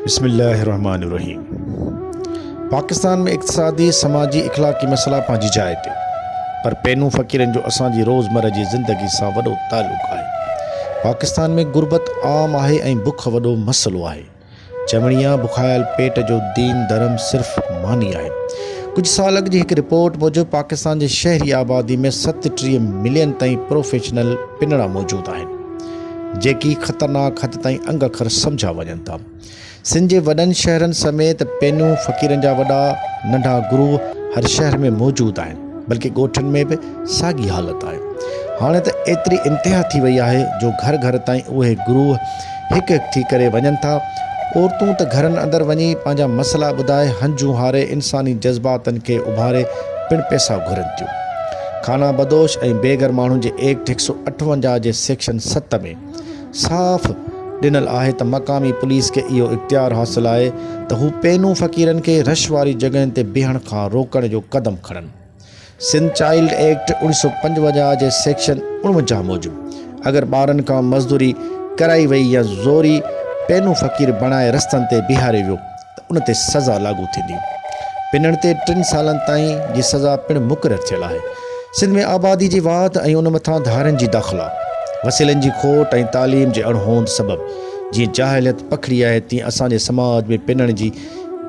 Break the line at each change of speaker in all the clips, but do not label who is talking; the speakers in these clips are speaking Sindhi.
بسم الله الرحمٰن الرحيم پاڪستان ۾ اقتصادي سماجي اخلاقي مسئلا پنهنجي جاء تي پر پينون فقيرن جو اسان جي روزمره جي زندگي سان وڏو تعلق آهي پاڪستان ۾ غربت عام آهي ۽ بک وڏو مسئلو آهي چوڻي آهي بکايل پيٽ جو دين ڌرم صرف ماني آهي ڪجهه سال اڳ جي هڪ رپورٽ موجب پاڪستان جي شهري آبادي ۾ ست ٽيهه ملين تائين پروفيشنل پنڙا موجود آهن جيڪي خطرناڪ حد تائين انگ اکر سمجهيا وڃن ٿا. سنڌ جي وڏن شهرن سميت پينون فقيرن جا وڏا ننڍا گروه هر شهر ۾ موجود آهن، بلڪه ڳوٺن ۾ به ساڳي حالت آهي. هاڻي ته ايتري انتها ٿي وئي آهي جو گهر گهر تائين اهي گروه هڪ هڪ ٿي ڪري وڃن ٿا. عورتون ته گهرن اندر وڃي پنهنجا مسئلا ٻڌائي هنجون هاري انساني جذباتن کي اڀاري پڻ پئسا گهرن ٿيون. خانه بدوش ۽ بي گهر ماڻهن جي ايڪٽ هڪ سؤ اٺونجاهه جي سيڪشن ست ۾ صاف ڏنل آهي ته مقامي پوليس کي اهو اختيار حاصل آهي ته هو پينون فقيرن کي رش واري جڳهين تي بيهڻ کان روڪڻ جو قدم کڻن. سنڌ چائلڊ ايڪٽ اوڻ سؤ پنجونجاهه جي سيڪشن اڻونجاهه موجب اگر ٻارن کان مزدوري ڪرائي وئي يا زوري پينون فقير بڻائي رستن تي بيهاري ويو ته ان تي سزا لاڳو ٿيندي. پنڻ تي ٽن سالن تائين جي سزا پڻ مقرر ٿيل آهي. سنڌ ۾ آبادي جي واڌ ۽ ان مٿان ڌارين جي داخلا، وسيلن جي کوٽ ۽ تعليم جي اڻهوند سبب جيئن جاهليت پکڙي آهي تيئن اسان جي سماج ۾ پنڻ جي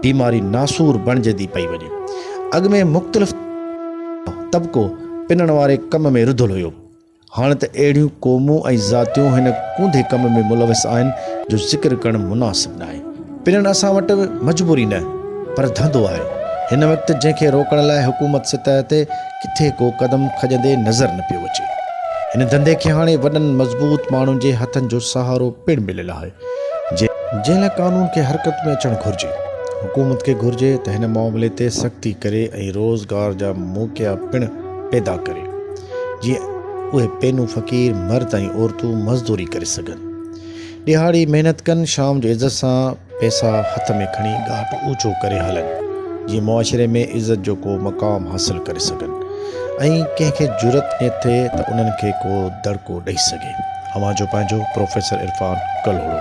بيماري ناسور بڻجندي پئي وڃي. اڳ ۾ مختلف طبقو پنڻ واري ڪم ۾ رڌل هيو. هاڻ ته اهڙيون قومون ۽ ذاتيون هن ڪونڌي ڪم ۾ ملوث آهن جو ذڪر ڪرڻ مناسب ناهي. پنڻ اسان وٽ مجبوري نه پر ڌنڌو آهي. هن وقت جنهن کي روڪڻ لاء حڪومت سطح تي ڪٿي ڪو قدم کڄندي نظر نه پيو اچي. هن ڌنڌي کي هاڻي وڏن مضبوط ماڻهن جي هٿن جو سهارو پڻ مليل آهي جنهن. جنهن لاء قانون کي حرڪت ۾ اچڻ گهرجي. حڪومت کي گهرجي ته هن معاملي تي سختي ڪري ۽ روزگار جا موقعا پڻ پيدا ڪري. جيئن اهي پينون فقير، مرد ۽ عورتون مزدوري ڪري سگهن. ڏهاڙي محنت ڪن، شام جو عزت سان پئسا هٿ ۾ کڻي ڳاٽ اوچو ڪري هلن، جيئن معاشري ۾ عزت جو ڪو مقام حاصل ڪري سگهن ۽ ڪنهن کي جرئت نه ٿئي ته انهن کي ڪو دڙڪو ڏئي سگهي. اوهان جو پنهنجو پروفيسر عرفان ڪلهوڙو.